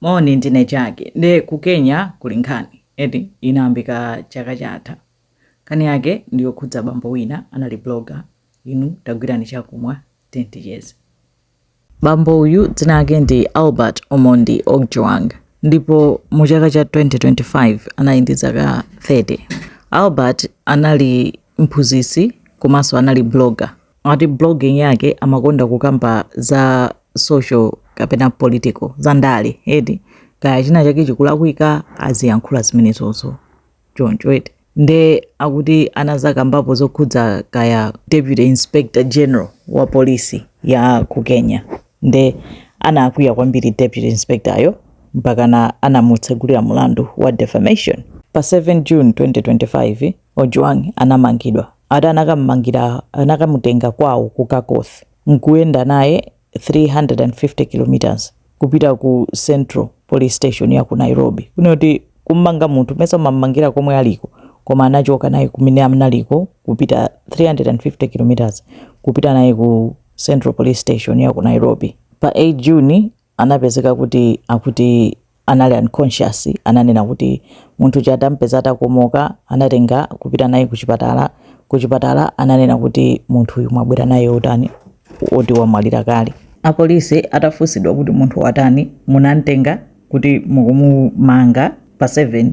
Moni ndine Jack nde ku Kenya kuli nkhani eti inayambika chaka chatha. Nkhani yake ndi yokhudza bambo wina anali blogger. Inu tagwirani chakumwa tiyeni ticheze. Bambo uyu dzina lake ndi Albert Omondi Ojwang ndipo mu chaka cha 2025 anali ndi zaka 30. Albert anali mphunzitsi komanso anali blogger. ati blogging yake amakonda kukamba za social kapena political za ndale eti kaya china chake chikulakwika aziyankhula zimenezozo choncho eti nde akuti anazakambapo zokhudza kaya deputy inspector general wa polisi ya ku kenya nde anakwiya kwambiri deputy inspectoryo mpakana anamutsegulira mulandu wa defamation pa 7 june 2025 Ojwang anamangidwa ati anakamumangira anakamutenga kwawo ku Kakoth nkuyenda naye 350 kilometers kupita ku Central police station ya ku Nairobi. Kunena kuti kumumanga munthu mesa umamumangira komwe aliko koma anachoka naye kumene analiko kupita 350 kilometers kupita naye ku Central police station ya ku Nairobi. Pa 8 June anapezeka kuti akuti anali unconscious ananena kuti munthu uja atampeza atakomoka anatenga kupita naye kuchipatala kuchipatala ananena kuti munthu uyu mwabwera naye atani oti wamwalira kale apolisi atafunsidwa kuti munthu watani munamtenga kuti mukumumanga pa 7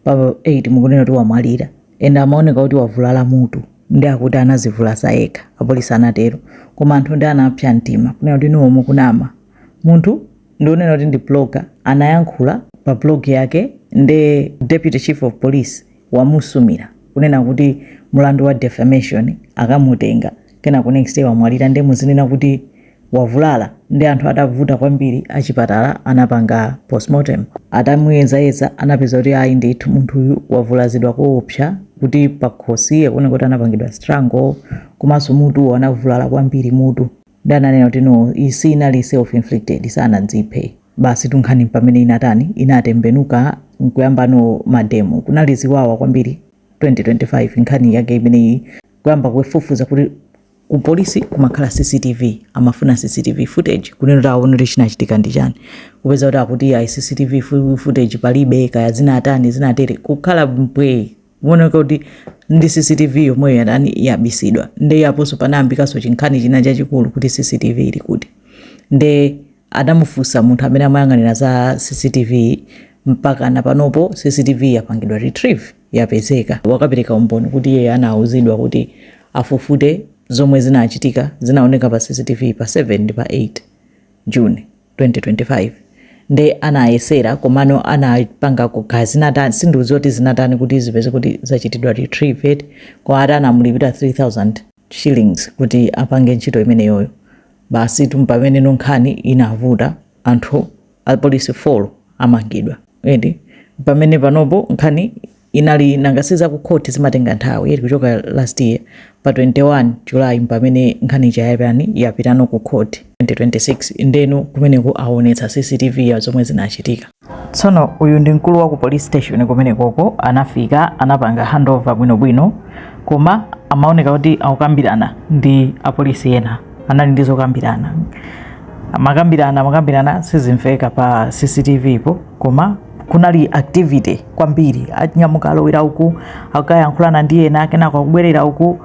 pa 8 mukunena kuti wamwalira and amaoneka kuti wavulala mutu nde akuti anazivulaza yekha apolisi anatero koma anthu nde anapsa mtima kunena kuti inuwo mukunama munthu ndi unena kuti ndi blogger anayankhula pa blog yake nde deputy chief of police wamusumira kunena kuti mulandu wa defamation akamutenga kenako next day wamwalira nde muzinena kuti wavulala nde anthu atavuta kwambiri achipatala anapanga postmortem atamuyezayeza anapeza kuti ayi ndithu munthuyu wavulazidwa koopsa kuti pakhosi akuona kuti anapangidwa strangle komanso mutuwo anavulala kwambiri mutu nde ananena kuti no iyi si inali self inflicted sanadziphe basi tu nkhani pamene inatani inatembenuka nkuyambano mademo kunali ziwawa kwambiri 2025 nkhani yake imeneyi kuyamba kufufuza kuti ku polisi kumakhala cctv amafuna cctv footage kunena kuti aone kuti chinachitika ndi chani kupeza kuti akuti ayi cctv fu- footage palibe kaya zinatani zinatere kukhala mpwee kuoneka kuti nde cctv yomweyo yatani yabisidwa nde aponso panayambikanso chinkhani china chachikulu kuti cctv ili kuti nde adamufunsa munthu amene amayang'anira za CCTV mpakana panopo CCTV yapangidwa retrieve yapezeka wakapereka umboni kuti iye anauzidwa kuti afufute zomwe zinachitika zinaoneka pa CCTV pa 7 ndi pa 8 June 2025 nde anayesera komano anapanga kaya zinatani sindikudziwa kuti zinatani kuti zipezeke kuti zachitidwa retrieve koma akuti anamulipira 3000 shillings kuti apange ntchito imeneyoyo basitu mpameneno nkhani inavuta anthu apolisi folo amangidwa eti pamene panopo nkhani inali nanga si zakukhoti zimatenga nthawi eti kuchoka last year pa 21 july pamene nkhani ija yapani yapitano ku khoti 2026 ndeno kumeneko aonetsa cctv ya zomwe zinachitika Tsono uyu ndi mkulu wa ku police station kumenekoko anafika anapanga handover bwinobwino koma amaoneka kuti akukambirana ndi apolisi ena anali ndi zokambirana amakambirana amakambirana sizimveka pa cctv po koma kunali activity kwambiri anyamuka alowera uku akayankhulana ndi ena kenako akubwerera uku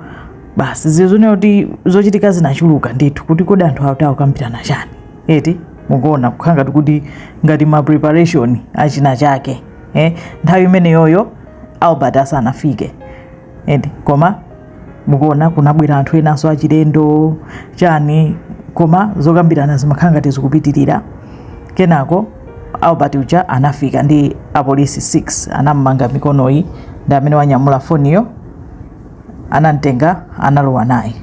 basi zizioneka kuti zochitika zinachuluka ndithu kuti kodi anthu awa akuti akukambirana chani eti mukuona kukhala ngati kuti ngati ma preparation achina chake nthawi imeneyoyo albert asanafike eti koma mukuona kunabwera anthu enanso achilendo chani koma zokambirana zimakhala ngati zikupitirira kenako albert uja anafika ndi apolisi 6 anamumanga mikonoyi ndi amene wanyamula foniyo anamtenga analowa naye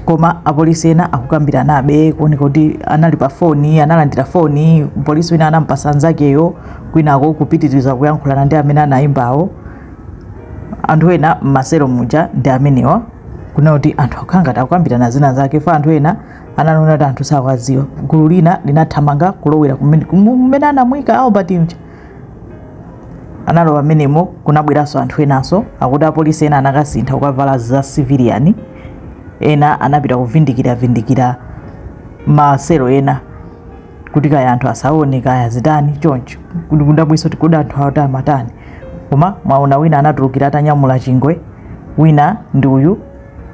koma apolisi ena akukambiranabe kuoneka kuti anali pa foni analandira foni polisi wina anampasa nzakeyo kwinako kupitiriza kuyankhulana ndi amene anayimbawo anthu ena m'maselo muja ndi amenewa kuona kuti anthu akukhala ngati akukambirana zina zake fa anthu ena anaona kuti anthu sakuwadziwa gulu lina linathamanga kulowera kumene kumene anamuyika albert uja analowa mmenemo kunabweranso anthu enanso akuti apolisi ena anakasintha kukavala za civilian ena anapita kuvindikira vindikira maselo ena kuti kaya anthu asaone kaya zitani choncho kuti kudabwinso kuti kodi anthu awa akuti amatani koma mwaona wina anatulukira atanyamula chingwe wina ndi uyu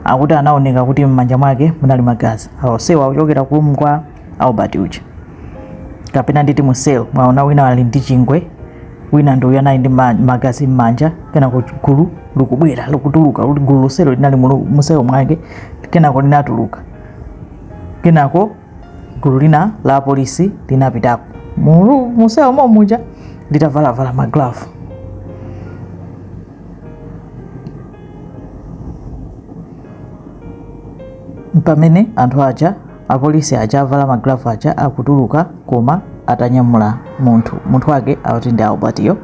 akuti anaoneka kuti m'manja mwake munali magazi onsewa akuchokera ku room kwa albert uja kapena nditi mu cell mwaona wina ali ndi chingwe wina ndi uyu anali ndi ma- magazi m'manja kenako gulu likubwera likutuluka kuti gulu lonselo linali mu- mu cell mwake kenako linatuluka kenako gulu lina la apolisi linapitako mu cell momuja litavalavala maglavu mpamene anthu aja apolisi aja avala maglavu aja akutuluka koma atanyamula munthu munthu wake akuti ndi Albert yo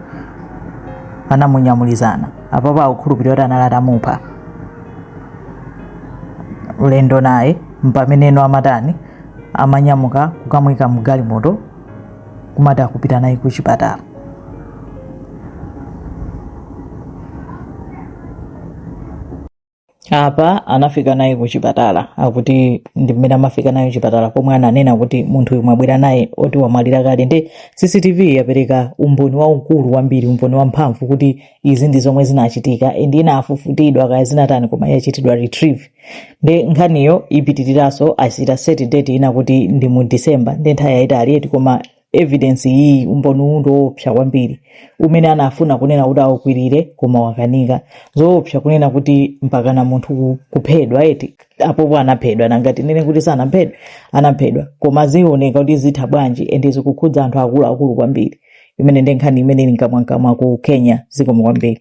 anamunyamulizana apapo akukhulupirira kuti anali atamupha ulendo naye mpamene ano amatani amanyamuka kukamwika mgalimoto kumati akupita naye ku chipatala apa anafika naye ku chipatala akuti ndi mmene amafika naye chipatala pomwe ananena kuti munthu uyu mwabwera naye oti wamwalira kale ndi cctv yapereka umboni waukulu kwambiri umboni wamphamvu kuti izi ndi zomwe zinachitika and inafufutidwa kaya zinatani koma yachitidwa retrieve nde nkhaniyo ipitiriranso achita set date ina kuti ndi mu december nde nthawi yayitali eti koma evidence iyi umboni uwu ndi woopsa kwambiri umene anafuna kunena kuti aukwirire koma wakanika zoopsa kunena kuti mpakana munthu ku- kuphedwa eti apopo anaphedwa nanga tinene kuti sanaphedwe anaphedwa koma zioneka kuti zitha bwanji ende zikukhudza anthu akuluakulu kwambiri imene ndi nkhani imene ili mkamwamkamwa ku kenya zikomo kwambiri